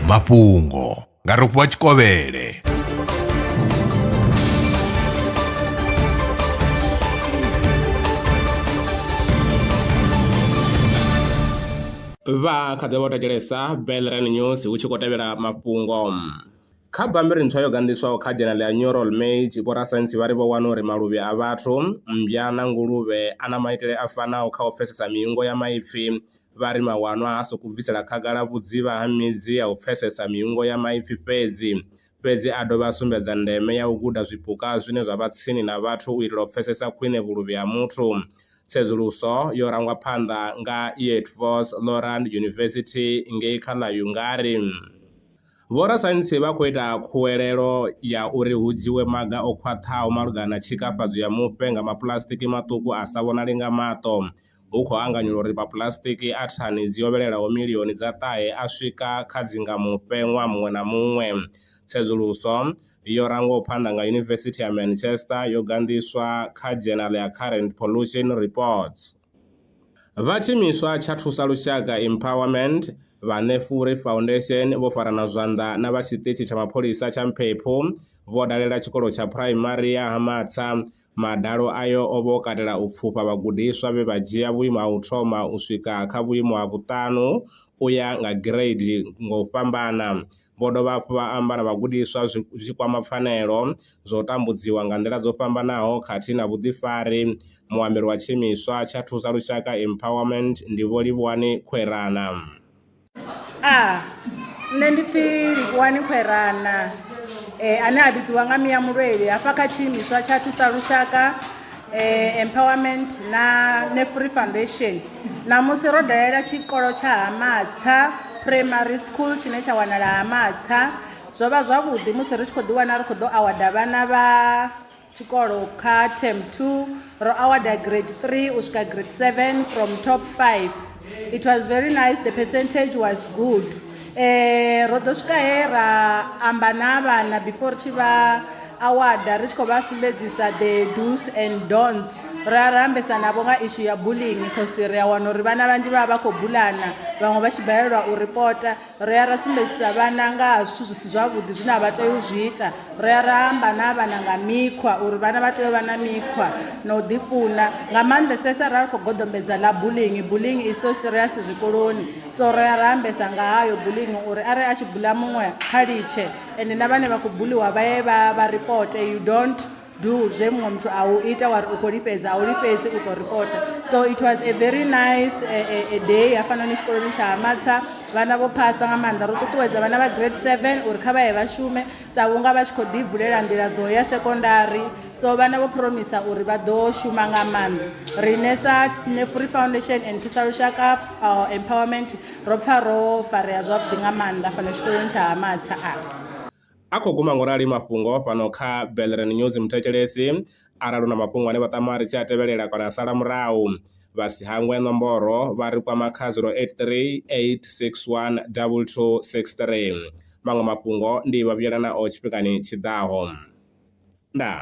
mafhungo nga rofhiwa tshikovhele vha kha ḓi vha vho thetshelesa belran news hu tshi khou tevhela mafhungo kha bammbiri ntswa yo ganḓiswaho kha dzhenele ya neural mage vhorasaintsi vha ri vho wana uri maluvhi a vhathu mmbya na nguluvhe a na maitele a fanaho kha u pfesesa miungo ya maipfi vha ri mawanwa ha sokou bvisela khagala vhudzivha ha midzi ya u pfesesa miungo ya maipfi fhedzi, fhedzi a dovha a sumbedza ndeme ya u guda zwipuka zwine zwa vha tsini na vhathu u itela u pfesesa khwine vhuluvhi ha muthu. Tsedzuluso yo rangwa phanḓa nga Eötvös Loránd University ngei kha ḽa Hungary. Vhorasaintsi vha khou ita khuwelelo ya uri hu dzhiwe maga o khwaṱhaho malugana na tshikafhadzo ya mufhe nga mapuḽasitiki maṱuku a sa vhonali nga maṱo hu khou anganyelwa uri mapuḽasitiki a thani dzi hovhelelaho milioni dza ṱahe a swika kha dzi nga mufhe ṅwaha muṅwe na muṅwe. Tsedzuluso yo rangwaho phanḓa nga Yunivesithi ya Manchester yo ganḓiswa kha dzhenala ya Current Pollution Reports. Vha tshiimiswa tsha Thusa Lushaka Empowerment, vha Nefuri Foundation vho farana zwanḓa na vha tshiṱitshi tsha mapholisa tsha Mphephu vho dalela tshikolo tsha phuraimari ya Ha Matsa Madalo ayo o vha o katela u pfufha vhagudiswa vhe vha dzhia vhuimo ha u thoma u swika kha vhuimo ha vhuṱanu u ya nga gireidi nga u fhambana. Vho dovha hafhu vha amba na vhagudiswa zwi tshi kwama pfanelo, zwa u tambudziwa nga nḓila dzo fhambanaho khathihi na vhuḓifari. Muambeli wa tshiimiswa tsha Thusa Lushaka Empowerment ndi Vho Livhuwani Khwerana. A, Nṋe ndi pfi Likoani Khwerana ane a vhidziwa nga Mia Mulweli hafha kha tshiimiswa tsha Thusa Lushaka Empowerment na Nefri Foundation. Ṋamusi ro dalela tshikolo tsha Ha Matsha Primary School tshine tsha wanala Ha Matsha, zwo vha zwavhuḓi musi ri tshi khou ḓi wana ri khou ḓo awada vhana vha. tshikolo kha term 2 ro awada grade 3 u swika grade 7 from top 5 it was very nice the percentage was good eh ro ḓo swika he ra amba na vhana before ri tshi vha awada ri tshi khou vha sumbedzisa the dos and dons ra ra ambesa navho nga ishu ya bullying cause ri a wana uri vhana vhanzhi vha vha vha khou bulana vhaṅwe vha tshi balelwa u ripota Ri ya ra sumbedzisa vhana nga ha zwithu zwi si zwavhuḓi zwine a vha tei u zwi ita ri ya ra amba na vhana nga mikhwa uri vhana vha tea u vha na mikhwa na u ḓifuna nga maanḓesesa ra ri khou goḓombedza ḽa bullying bullying is so serious zwikoloni so ri ya ra ambesa nga hayo bullying uri arali a tshi bula muṅwe kha litshe ende na vhane vha khou buliwa vha ye vha vha ripote you don't do zwe muṅwe muthu a u ita wari u khou lifhedza a u lifhedzi u ḓo ripota so it was a very nice a, a, a day hafhanoni tshikoloni tsha hamatsa vhana vho phasa nga maanḓa ro ṱuṱuwedza vhana vha grade seven uri kha vha ye vha shume sa vhunga vha tshi khou ḓi vulela nḓila dzo ya sekondari so vhana vho promisa uri vha ḓo shuma nga maanḓa riṋe sa nefuri foundation and thusa lushaka uh, empowerment ro pfa ro farea zwavhuḓi nga maanḓa fhano tshikoloni tsha hamatsa a A khou guma ngo rali mafhungo fhano kha Belren News Muthetshelesi arali u na mafhungo ane vha tama ri tshi a tevhelela kana a sala murahu, vha si hangwe nomboro vha ri kwama kha 0838612263. Maṅwe mafhungo ndi vha vhuyela nao tshifhingani tshi ḓaho. Ndaa.